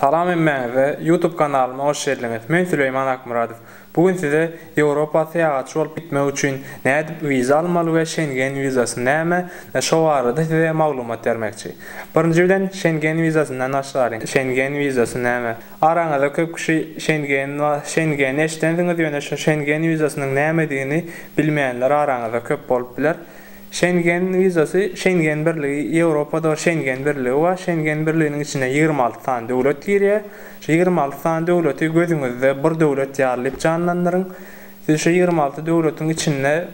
Salam hemmäňize YouTube kanalyma hoş geldiňiz men Süleýman Akmyradow bu gün size Ýewropa syýahatçy bolup gitmek üçin nädip wiza almaly we Şengen wizasy näme şo barada size maglumat bermekçi birinji bilen Şengen wizasyndan başlalyň Şengen wizasy näme araňyzda köp kişi Şengen Şengeni eşidensiňiz ýöne şo Şengen wizasynyň nämedigini bilmeýänler araňyzda köp bolup biler Şengen wizasy, Şengen birligi, Ýewropada Şengen birligi bar. Şengen birliginiň içine ýigrimi alty sany döwlet girýär. Şu ýigrimi alty sany döwleti gözüňizde bir döwlet ýaly diýip janlandyryň. Siz şu ýigrimi alty döwletiň içinde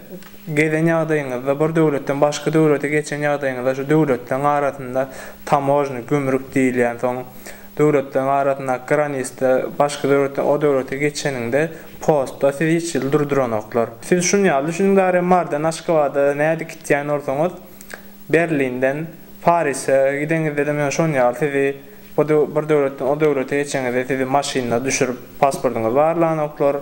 gezen ýagdaýyňyzda, bir döwletden başga döwlete geçen ýagdaýyňyzda şu döwletleriň arasynda tamožni, gümrük diýilýän, soň Döwletleriň arasyndaky granisda başga döwletden o döwlete geçeniňde postda sizi hiç ýyl durduranoklar. Siz şun ýaly düşüniň bari Marydan Aşgabada nädip gitýän bolsaňyz Berlinden Parise gideňizdem ýöne şon ýaly sizi bir döwletden o döwlete geçeňizde sizi maşynda düşürip pasportyňyzy barlanoklar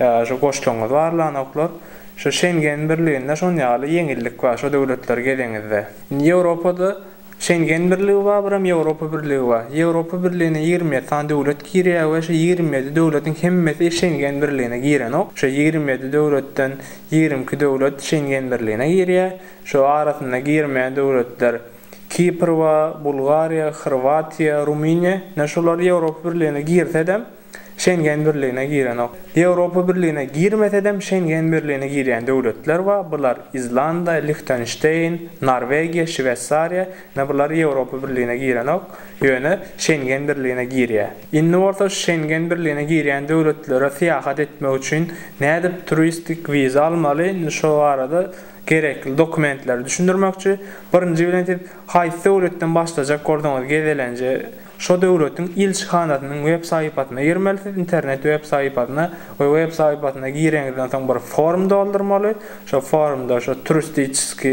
ýa şo goşlaryňyzy barlanoklar. Şo Şengen birliginde şon ýaly ýeňillik bar şo döwletleri gezeňizde. Indi Ýewropada Şengen birligi bar bir hem Ýewropa birligi bar. Ýewropa birligine ýigrimi ýedi sany döwlet girýär we şu ýigrimi ýedi döwletiň hemmesi Şengen birligine girenok. Şu ýigrimi ýedi döwletden ýigrimi iki döwlet Şengen birligine girýär. Şu arasynda girmeýän döwletler Kipr bar, Bulgariýa, Horwatiýa, Rumyniýa. Ine şular Ýewropa birligine girsedem, Şengen birligine girenok. Ýewropa birligine girmesedem Şengen birligine girýän döwletler bar, bular Izlanda, Lihtenşteýn, Norwegiýa, Şweýsariýa, ine bular Ýewropa birligine girenok, ýöne Şengen birligine girýä. Indi bolsa şu Şengen birligine girýän döwletlere syýahat etmek üçin nädip turistik wiza almaly, indi şo barada gerekli dokumentleri düşündirmekçi. Birinji bilen siz haýsy döwletden başlajak bolsaňyz gezelenje, Şo döwletiň ilçihanasynyň web saýypasyna girmelisiz, internet web saýypasyna we web saýypasyna gireňizden soň bir form doldurmaly, şo formda şo turistiçeski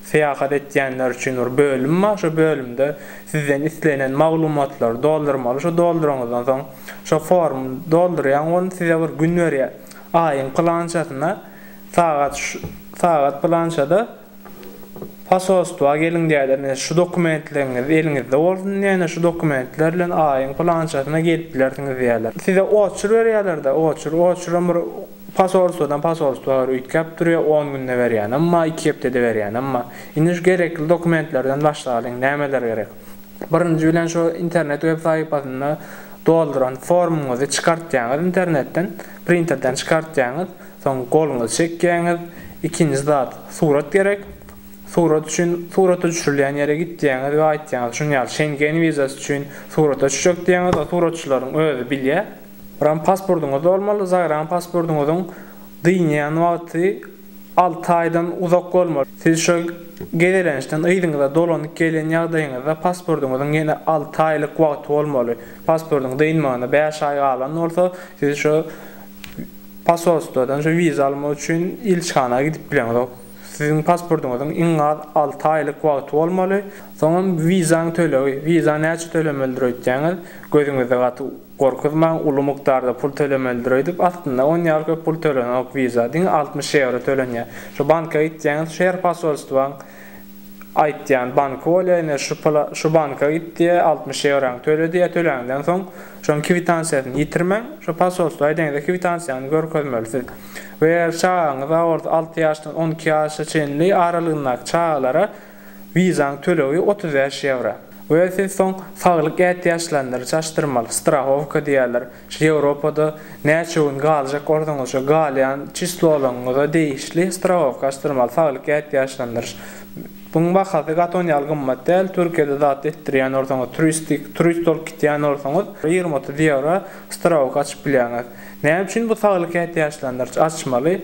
syýahat etýänler üçin bir bölüm bar, şo bölümde sizden islenen maglumatlary doldurmaly, şo dolduraňyzdan soň şo formy doldurýaň ol size bir gün berýär, aýyň pylançasyna sagat şu sagat pylançada. Posolstwa geliň däder ne şu dokumentleriňiz eliňizde bolsun ne-ne şu dokumentler bilen aýyň pylançasyna gelip bilersiňiz diýerler. Size oçur berýärler-de, oçur. Oçuram bir posolstwadan posolstwa bir üýtgäp durýar, on günde berýänem bar, iki hepdede berýänem bar. Indi şu gerekli dokumentlerden başlalyň, nämeler gerek? Birinji bilen şu internet web sahypasynda dolduran formuňyzy çykartýaňyz internetden, printerden çykartýaňyz. Soň goluňyzy çekýäňiz, ikinji zat surat gerek. Surat üçin surata düşürilýän ýere gitýäňiz we aýtýaňyz şuny ýaly Şengen wizasy üçin surata düşjek diýýäňiz, o suratçylaryň özi bilýär. Buram pasportyňyz bolmaly, zagraň pasportyňyzyň dynýan wagty alty aýdan uzak bolmaly. Siz şo gezelençden yzyňyza dolanyp gelýän ýagdaýyňyzda pasportyňyzyň ýene alty aýlyk wagty bolmaly. Pasportyň dynmagyna bäş aý galan bolsa, siz şo Posolstwadan şu wiza almak üçin ilçihana gidip bileňzok. Siziň pasportyňyzyň iň az alty aýlyk wagty bolmaly. Soňam wizaň tölegi, wiza näçe tölemelidir öýtýäňiz, gözüňizi gaty gorkuzmaň, uly mukdarda pul tölemelidir öýdüp, aslynda on ýaly köp pul tölenok wiza, diňe altmyş ýewro tölenýär. Şu banka gitýäňiz, şu her posolstwaň. aýtýan banky bolýar ine şu şu banka git diýe altmyş ýewraňy töle diýe töläňden soň şoň kwitansiýasyny ýitirmäň şo posolstwa deňde kwitansiýaňy görkezmeli siz we eger çagaňyz aword alty ýaşdan on iki ýaşa çenli aralygyndaky çagalara wizaň tölegi otuz bäş ýewra we siz soň saglyk ätiýaçlandyryjy açdyrmaly strahowka diýerler. Şu Ýewropada näçe gün galjak bolsaňyz şu galýan çislolaryňyza degişli strawowka açdyrmaly saglyk ätiýaçlandyryş. Buň bahasy gaty on ýaly gymmat däl, Türkiýede zat etdirýän bolsaňyz turistik turist bolup gitýän bolsaňyz ýigrimi otuz ýewro strawowka açyp bilýäňiz. Näme üçin bu saglyk ätiýaçlandyryş açmaly?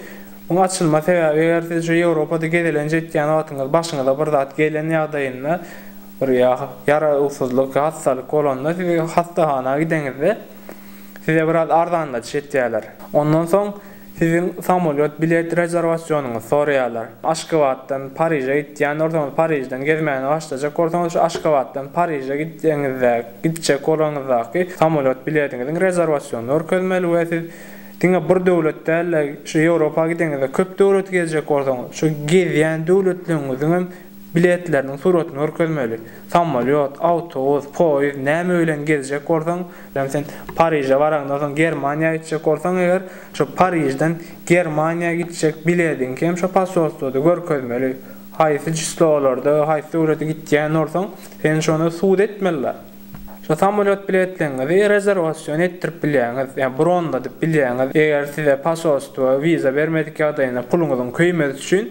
Muň açylma sebäbi eger siz şu Ýewropada gezelenç etýän wagtyňyz başyňyza bir zat gelen ýagdaýynda Bir ýarawsyzlyk, hassalyk bolanda siz hassahana gideňizde size biraz arzanladyş etýärler. Ondan soň siziň samolýot bilet rezerwasionyňyzy soraýarlar. Aşgabatdan Pariže gitýän bolsaňyz, Parižden gezmäni başlajak bolsaňyz şu Aşgabatdan Pariže gitseňizde, gitjek bolanyňyzdaky samolýot bilediňiziň rezerwasionyny görkezmeli we siz diňe bir döwlet däl-de şu Ýewropa gideňizde köp döwleti gezjek bolsaňyz şu gezýän döwletleriňiziňem biletleriniň suratyny görkezmeli. Samolýot, awtobus, poýizd näme bilen gezjek bolsaň, ýagny sen Pariže baraňdan soň Germaniýa gitjek bolsaň eger, şo Parižden Germaniýa gitjek bilediňi hem şo posolstwoda görkezmeli. Haýsy çislolarda, haýsy döwlete gitýän bolsaň, seni şonda sud etmeliler. Şo samolýot biletleňňizi rezerwasion etdirip bilýäňiz, ýagny bronladyp bilýäňiz, eger size posolstwo wiza bermedik ýagdaýynda puluňyzyň köýmesi üçin.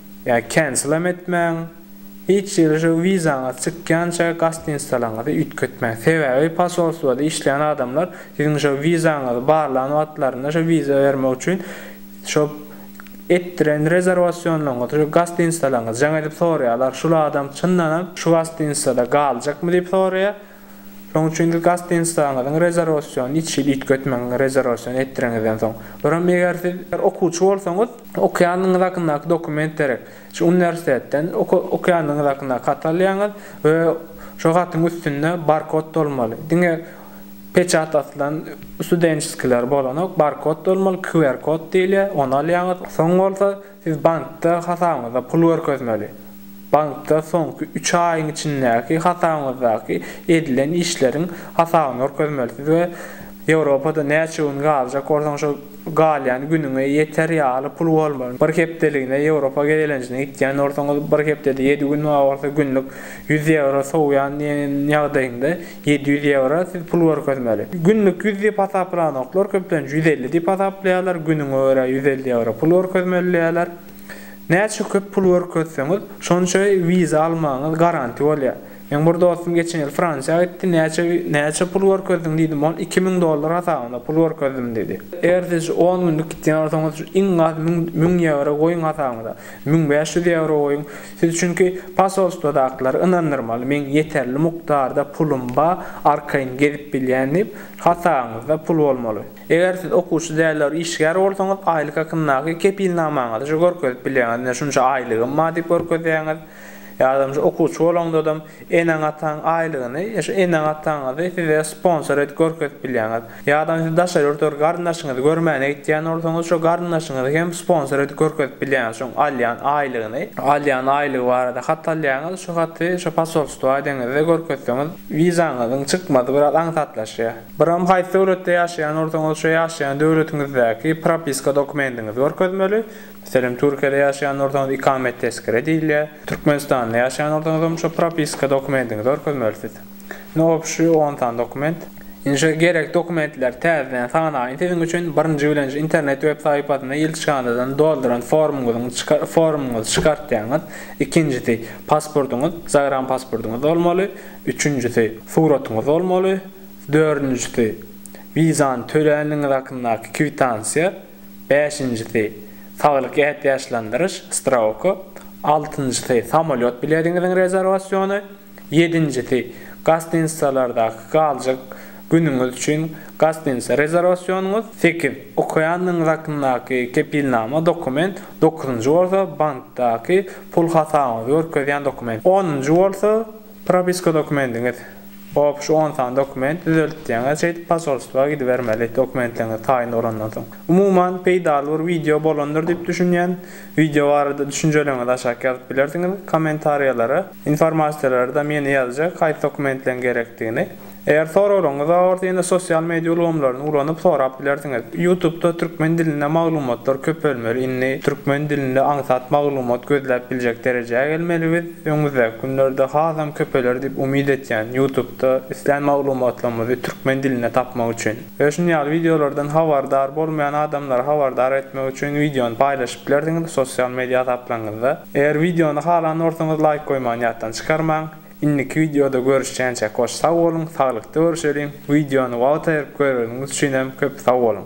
Ýa kenselam etmäň, hiç ýere şu wizaňyz çykýança gastinisleriňizi üýtgetmäň. Sebäbi posolstwada işleýän adamlar siziň şu wizaňyzy barlan wagtlarynda şu wiza bermek üçin şu etdiren rezerwasionlaryňyzy şu gastinisleriňizden gelip soraýarlar. Şul adam çyndanam şu gastinislerde galjakmy diýip soraýar. Şonuň üçin-de gastinisleriňiziň rezerwasiýonyny iki ýyl üýtgetmäň, rezerwasiýa etdireňizden soň. Öram eger siz okuwçy bolsaňyz, okaýanyňyz hakyndaky dokument derek. Şu uniwersitetden okaýanyňyz hakyndaky haty alýaňyz we şo hatyň üstünde barkod bolmaly. Diňe peçat asylan studençeskiler bolanok, barkod bolmaly, QR-kod diýilýär, ony alýaňyz. Soň bolsa Siz bankda hasabyňyzda pul görkezmeli. Bankda soňky üç aýyň içindäki hasabyňyzdaky edilen işleriň hasabyny görkezmelisiz we Ýewropada näçe gün galjak bolsaň şo galýan günüňe ýeter ýaly pul bolmaly. Bir hepdeligine Ýewropa gezelenjine gitýän bolsaňyz, bir hepdede ýedi gün, bar bolsa günlük ýüz ýewro sowýan diýen ýagdaýyňda Ýedi ýüz ýewro siz pul görkezmeli. Günlük ýüz diýip hasaplanoklar, köplenç ýüz elli diýip hasaplaýarlar, günüňe görä ýüz elli ýewro pul görkezmeli diýýärler. Näçe köp pul görkezseňiz, şonça wiza almagyňyz garanti bolýar. Meň bir dostum geçen ýyl Fransiýa gitdi, näçe näçe pul görkezdiň diýdim, ol iki müň dollar hasabyna pul görkezdim diýdi. Eger siz on günlük gitýän bolsaňyz, iň az müň müň ýewro goýuň hasabyňyza. Müň bäş ýüz ýewro goýuň. Siz çünki posolstwodakylary ynandyrmaly, meň ýeterli mukdarda pulum ba, arkaýyn gezip bilýän diýip, hasabyňyzda pul bolmaly. Eger siz okuwçy däldir işgär bolsaňyz, aýlyk hakyndaky kepilnamaňyzy şu görkezip bilýäňiz, ine şunça aýlygym ba diýip görkezýäňiz, ýa-da okuwçy bolaňdadam, Eneň-ataň aýlygyny ýa şu eneň-ataňyzy size sponsor edip görkezip bilýäňiz. Ýa-da siz daşary ýurtda bir garyndaşyňyzy görmäne gitýän bolsaňyz, şo garyndaşyňyzy hem sponsor edip görkezip bilýäňiz şoň alýan aýlygyny. Alýan aýlygy barada hat alýaňyz, şu haty şo posolstwa edeňizde görkezseňiz, wizaňyzyň çykmazy biraz aňsatlaşýar. Biram haýsy döwletde ýaşaýan bolsaňyz, şo ýaşaýan döwletiňizdäki propiska dokumendiňizi görkezmeli. Selam Türkiýede ýaşaýan bolsaňyz ikamet tezkere diýilýär. Türkmenistanda ýaşaýan bolsaňyzam şo propiska dokumendiňizi orkezmelisiz. Ne obşi on san dokument. Indi şo gerek dokumentleri täzeden sanaýyn siziň üçin birinji bilen şu internet web saýpasynda ilçihanadan dolduran formyňyzyň formyňyzy çykartýaňyz. Ikinjisi pasportyňyz zagram pasportyňyz bolmaly. Üçünjisi suratyňyz bolmaly. Dördünjisi wizany töläniňiz hakyndaky kwitansiýa. bäşinjisi, saglyk ätiýaçlandyryş, strauka, altynjysy, samolýot bilediňiziň rezerwasiony, ýedinjisi, gostinitsalardaky galjak günüňiz üçin gostinitsa rezerwasionyňyz, sekiz, okaýandygyňyz hakyndaky kepilnama, dokument, dokuzynjy bolsa, bankdaky pul hasabyňyzy görkezýän dokument, onunjy bolsa, Propiska dokumendiňiz. Obş on sany dokument düzeltdiýeňiz şeýdip posolstwa gidibermeli dokumentleriňiz taýyn bolandan soň. Umuman peýdaly bir wideo bolandyr diýip düşünýän. Wideo barada düşünjeleriňizi aşak ýazyp bilersiňiz kommentariýalara. Informasiýalarda meni ýazjak haýsy dokumentleriň gerekdigini. Eger soraglaryňyz bar bolsa ýene sosial media ulgamlaryny ulanyp sorap bilersiňiz. Ýutubda türkmen dilinde maglumatlar köpelmeli indi türkmen dilinde aňsat maglumat gözläp biljek derejä gelmeli biz öňümizdäki günlerde hasam köpeler diýip umyt etýän ýutubda islän maglumatlarymyzy türkmen dilinde tapmak üçin we şuny ýaly wideolardan habardar bolmaýan adamlary habardar etmek üçin wideony paýlaşyp bilersiňiz sosial media hasaplaryňyzda eger wideony halan bolsaňyz laýk goýmany ýatdan çykarmaň. Indiki wideoda görüşýänçä goş sag boluň saglykda görüşeliň wideony wagt aýyryp göreniňiz üçinem köp sag boluň.